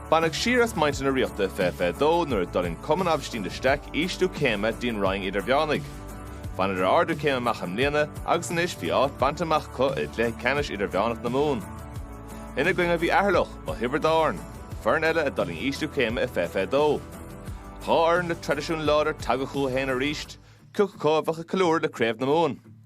Baineadh siar as muintir na Ríochta i fiche fiche dó nuair a d'fhulaing Cumann Aibhistín de Staic ísliú céime go dtí an Roinn Idirmheánaigh. Bhaineadar ardú céime amach i mbliana agus anois bhí áit bainte amach acu i gcluiche ceannais Idirmheánach na Mumhan. Ina gcoinne bhí Eatharlach ó Thiobraid Árann, foireann eile a d'fhulaing ísliú céime i fiche fiche dó. Dhá fhoireann le traidisiún láidir tagtha chucu féin arís, cioca acu a bheadh ag ceiliúradh le craobh na Mumhan?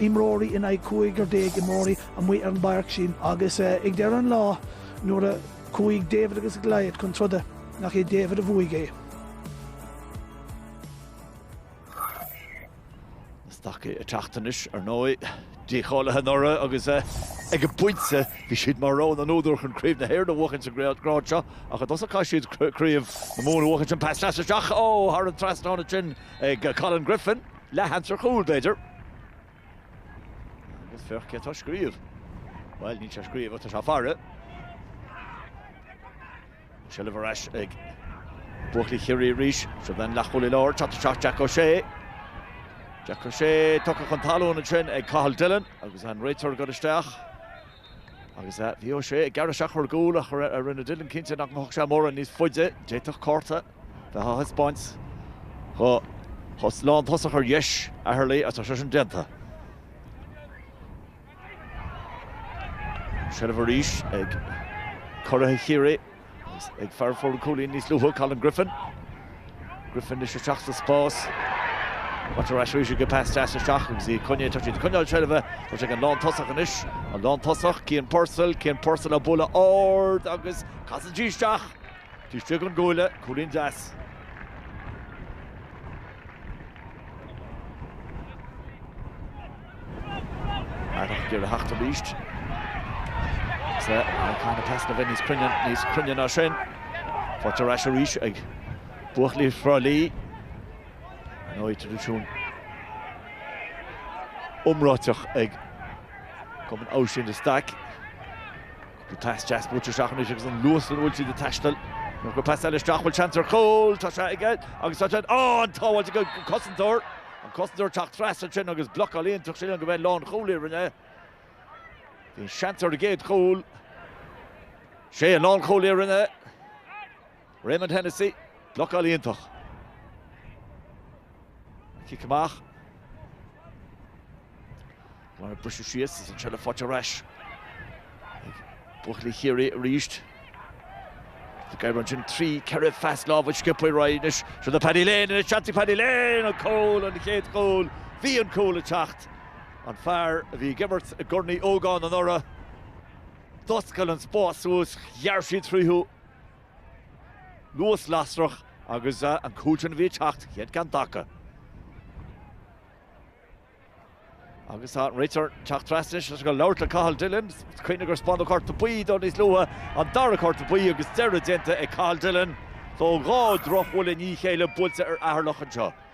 imreoirí in aghaidh cúigear déag imreoirí amuigh ar an bpáirc sin agus ag deireadh an lá nuair a chuaigh David agus Goliath chun troda nach é David a bhuaigh é. Stacaigh ag teacht anois, ar ndóigh, dícháilithe anuraidh agus ag an bpointe bhí siad mar rogha na n-údar chun craobh na hÉireann a bhuachaint sa ghrád seo ach i dtosach caithfidh siad craobh na Mumhan a bhuachaint an pas deas isteach ó thar an trasnán ansin ag Colin Griffin. Leathsheans ar chúl, b'fhéidir. Agus féach cé atá ag scríobh. Bhuel, níl sé ag scríobh ach tá sé ag faire. An seilbh ar ais ag buachaillí Chiarraí arís. Seo é an leathchúlaí láir, teacht isteach Jack O'Shea. Jack O'Shea tugtha chun talún ansin ag Cathal Dillon agus an réiteoir ag dul isteach. Agus bhí O'Shea ag gearradh isteach ar an gcúl ach rinne Dillon cinnte nach mbeadh sé mórán níos faide. D'fhéadfadh cárta. Bheith á thaispeáint do lántosach ar dheis Eatharlaí agus tá sé sin déanta. An seilbh arís ag curaithe Chiarraí agus ag fear a fuair an cúilín níos luaithe, Colin Griffin. Griffin anois isteach sa spás. Bhaint ar ais arís ag an pas deas isteach agus í ag coinne, tá siad ag coinneáil seilbhe, tá sé ag an lántosach anois, an lántosach, Cian Purcell, Cian Purcell á bualadh ard agus casann sí isteach! Taobh istigh den gcuaille, cúilín deas. Eatharlach ag iarraidh theacht arís. Is caithfidh an pas a bheith níos cruinne ná sin. Faighte ar ais arís ag buachaillí Thrá Lí. Ar ndóigh traidisiún iomráiteach ag Cumann Aibhistín de Staic. Bhí pas deas buailte isteach anois agus an luas ina bhfuil siad ag taisteal. Nuair a chuir pas eile isteach bhfuil seans ar chúl. Tá sé aige agus tá sé an tsábháil ag cosantóir. An cosantóir teacht trasna ansin agus blocáil iontach ansin gurb é an lánchúlaí a rinne. Bhí seans ar a gcéad chúl. Sé an lánchúlaí a rinne. Raymond Hennessy, blocáil iontach. Cic amach. Mar a briseadh síos, is ansin a faighte ar ais ag buachaillí Chiarraí arís. Tá Guy Ryan ansin trí, ceithre phas lámh ag scipeáil faoi Ryan anois. Seo do Paddy Lane anois, seans ag Paddy Lane an cúl, an chéad chúl. Bhí an cúl ag teacht. An fear a bhí ag imirt i gCorn Uí Ógáin anuraidh, d'oscail an spás suas, ghearr siad tríothu. Luas lasrach agus an cúl sin a bhí ag teacht, chéad cheann acu. Agus tá réiteoir ag teacht trasna is ag labhairt le Cathal Dillon, cuimhnigh gur spáineadh cárta buí dó níos luaithe an dara cárta buí agus deireadh déanta ag Cathal Dillon, so dhá dhrochbhuille i ndiaidh a chéile buailte ar Eatharlach anseo.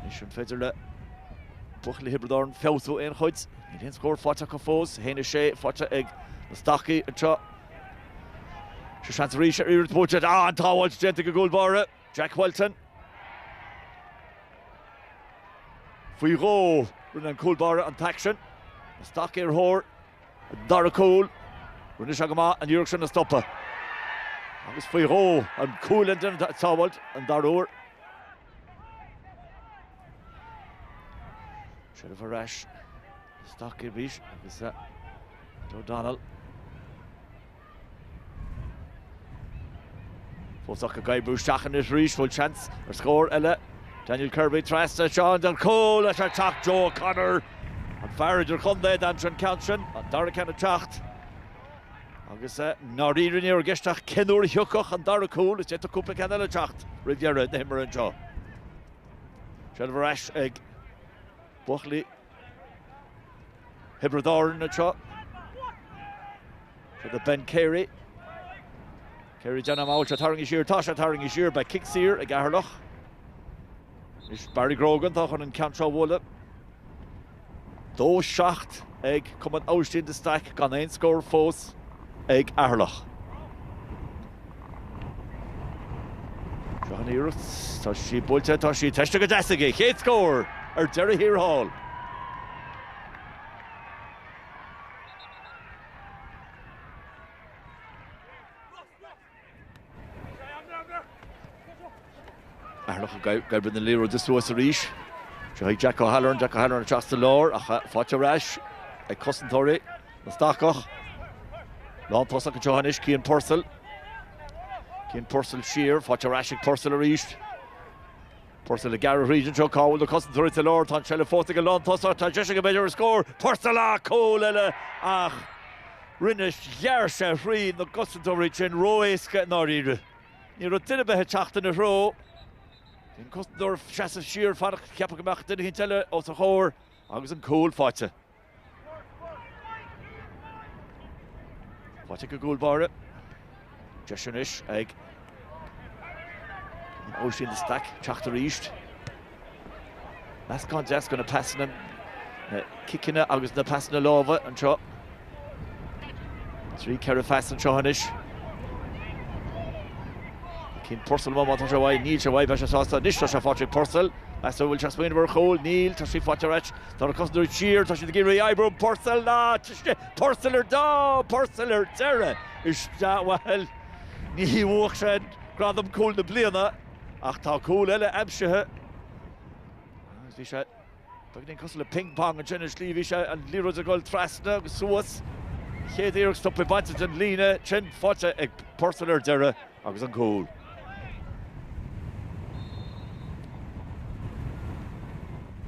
Anois an féidir le buachaillí Thiobraid Árann feabhsú aon chuid? Níl aon scór faighte acu fós, 1-6 faighte ag na Stacaigh anseo. Seo seans arís an iarracht buailte. Ah, an tsábháilt déanta ag an gcúl báire, Jack Whelton. Faoi dhó rinne an cúl báire an t-aicsean sin. Na Stacaigh ar thóir Dara cúl. Rinne sé go maith an iarracht sin a stopadh agus faoi dhó an cúlaí a rinne an tsábháilt an dara huair. Seilbh ar ais. Stacaigh ar bís agus O'Donnell. Fós acu ag oibriú isteach anois arís, bhfuil seans ar scór eile? Daniel Kirby trasna ansin don chúl é ag teacht Joe O'Connor, an fear idir chontae a d'aimsigh an ceann sin, an dara ceann ag teacht. Agus i ndáiríre ní raibh i gceist ach cén uair a thiocfadh an dara cúl, is d'fhéadfadh cúpla ceann eile teacht roimh dheireadh na himeartha anseo. Seilbh ar ais ag. buachaillí Thiobraid Árann anseo fágtha do Ben Carey. Carey ag déanamh amach go bhfuil sé tarraingthe siar, tá sé tarraingthe siar, beidh cic saor ag Eatharlach. Is Barry Grogan tá chun an ceann seo a bhualadh. 2-7 ag Cumann Aibhistín de Staic gan aon scór fós. ag Eatharlach. Seo an iarracht, tá sí buailte, tá sí tomhaiste go deas aige, chéad scór ar deireadh thiar thall. Eatharlach ag oibriú na liathróide suas arís. Seo ag Jack O'Halloran, Jack O'Halloran ag teacht sa lár ach faighte ar ais ag cosantóirí na Stacach. Lán tosach anseo anois Cian Purcell. Cian Purcell siar, faighte ar ais ag Purcell arís. Purcell ag gearradh thríd anseo, cá bhfuil na cosantóirí sa lár? Tá an tseilbh faighte ag an lántosach, tá deis aige bheith ar an scór. Purcell, ah cúl eile ach rinne, ghearr sé thrí na cosantóirí sin ró-éasca i ndáiríre. Ní raibh duine ar bith ag teacht ina threo. An cosantóir ag seasamh siar, ag fanacht, ag ceapadh go mbeadh duine eicínt eile os a chomhair agus an cúl faighte. Faighte ag an gcúl báire. Deis anois ag Aibhistín de Staic teacht arís. Meascán deas de na pasanna, na ciceanna agus na pasanna láimhe anseo. Trí ceithre phas anseo anois. Cian Purcell má tá sé uaidh, níl sé uaidh, beidh sé sásta anois, tá sé faighte ag Purcell. Meas a bhfuil sé ag smaoineamh ar chúl, níl, tá sí faighte ar ais. Tá cosantóirí thiar, tá siad ag iarraidh oibriú an Purcell ná ciste, Purcell ar dá, Purcell ar deireadh isteach, bhuel, ní bhuafaidh sé an gradam cúl na bliana ach tá cúl eile aimsithe agus bhí sé, beagáinín cosúil le ping pong ansin ar shlí, bhí sé, an liathróid ag dul trasna agus suas, an chéad iarracht stoptha, bainte den líne, ansin faighte ag Purcell ar deireadh. agus an cúl.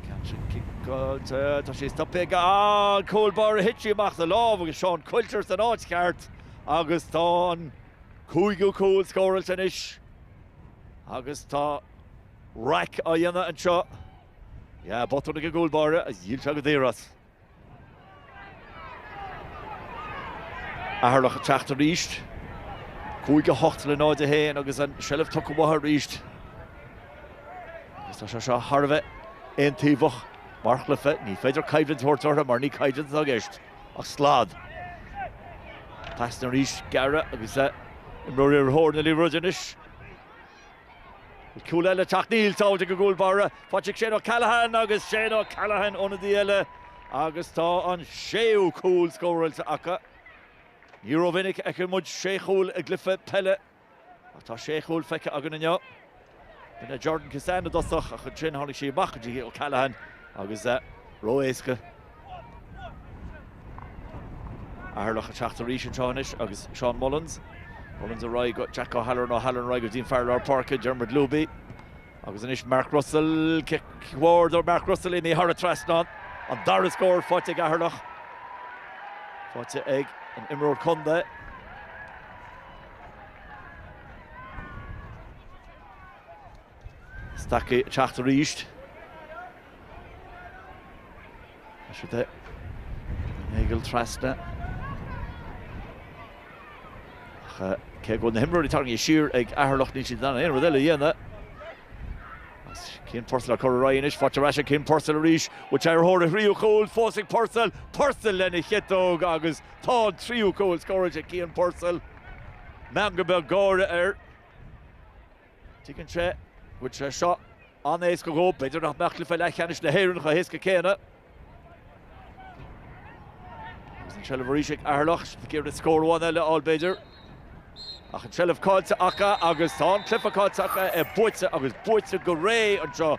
Catching ciceáilte, tá sé stoptha ag an gcúl báire ach thit sí amach as a lámh agus Seán Quilter san áit cheart agus tá an cúigiú cúl scóráilte anois agus tá raic á dhéanamh anseo. Yeah, botún ag an gcúl báire, dhíol sé go daor as. Eatharlach ag teacht arís. 5 8 le 0 1 agus an seilbh tugtha uathu arís. Agus tá sé seo thar a bheith aontaobhach mar chluiche. Ní féidir coimhlint a thabhairt orthu mar ní coimhlint atá i gceist ach slad. Pasanna arís gearra agus imreoirí ar thóir na liathróide anois. Cúl eile ag teacht, níl sábháilte ag an gcúl báire, faighte ag Shane O'Callaghan agus Shane O'Callaghan ionadaí eile agus tá an séú cúl scóráilte acu. Ní rómhinic a fheiceann muid sé chúl i gcluiche peile ach tá sé chúl feicthe againn inniu. B'in é Jordan Kissane i dtosach ach ansin tháinig sí amach go dtí O'Callaghan agus ró-éasca Eatharlach ag teacht arís anseo anois agus Seán Mullins. Mullins ar aghaidh go Jack O'Halloran, O'Halloran ar aghaidh go dtí an fear lár páirce, Diarmuid Looby. Agus anois Mark Russell, cic ard ó Mark Russell imithe thar an trasnán. An dara scór faighte ag Eatharlach. Faighte ag an imreoir contae. Stacie ag teacht arís. Tá siad ag dul trasna. Ach cé go bhfuil na himreoirí tarraingt siar ag Eatharlach níl siad in ann aon rud eile a dhéanamh. Cian Purcell ag cur ar ais anois faoi dtreise Cian Purcell arís bhfuil sé ar thóir a thríú cúil fós ag Purcell, Purcell lena chiotóg agus tá an tríú cúil scóráilte ag Cian Purcell. Meangadh beag gáire air. Tuigeann sé go bhfuil sé seo an-éasca dhó, b'fhéidir nach mbeadh cluiche leathcheannais na hÉireann chomh héasca céanna. Agus an tseilbh arís ag Eatharlach, ag iarraidh scór amháin eile a fháil b'fhéidir. Ach an tseilbh caillte acu agus tá an cluiche caillte acu, é buaite agus buaite go réidh anseo.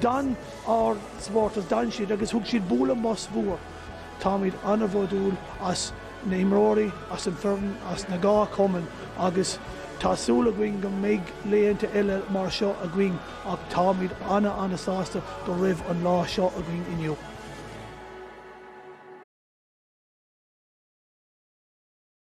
D'fhan ár supporters, d'fhan siad agus thug siad bualadh bos mór. Táimid an-bhródúil as na himreoirí, as an bhfoireann, as na dhá chumann agus tá súil againn go mbeidh laethanta eile mar seo againn ach táimid an-an-sásta go raibh an lá seo againn inniu.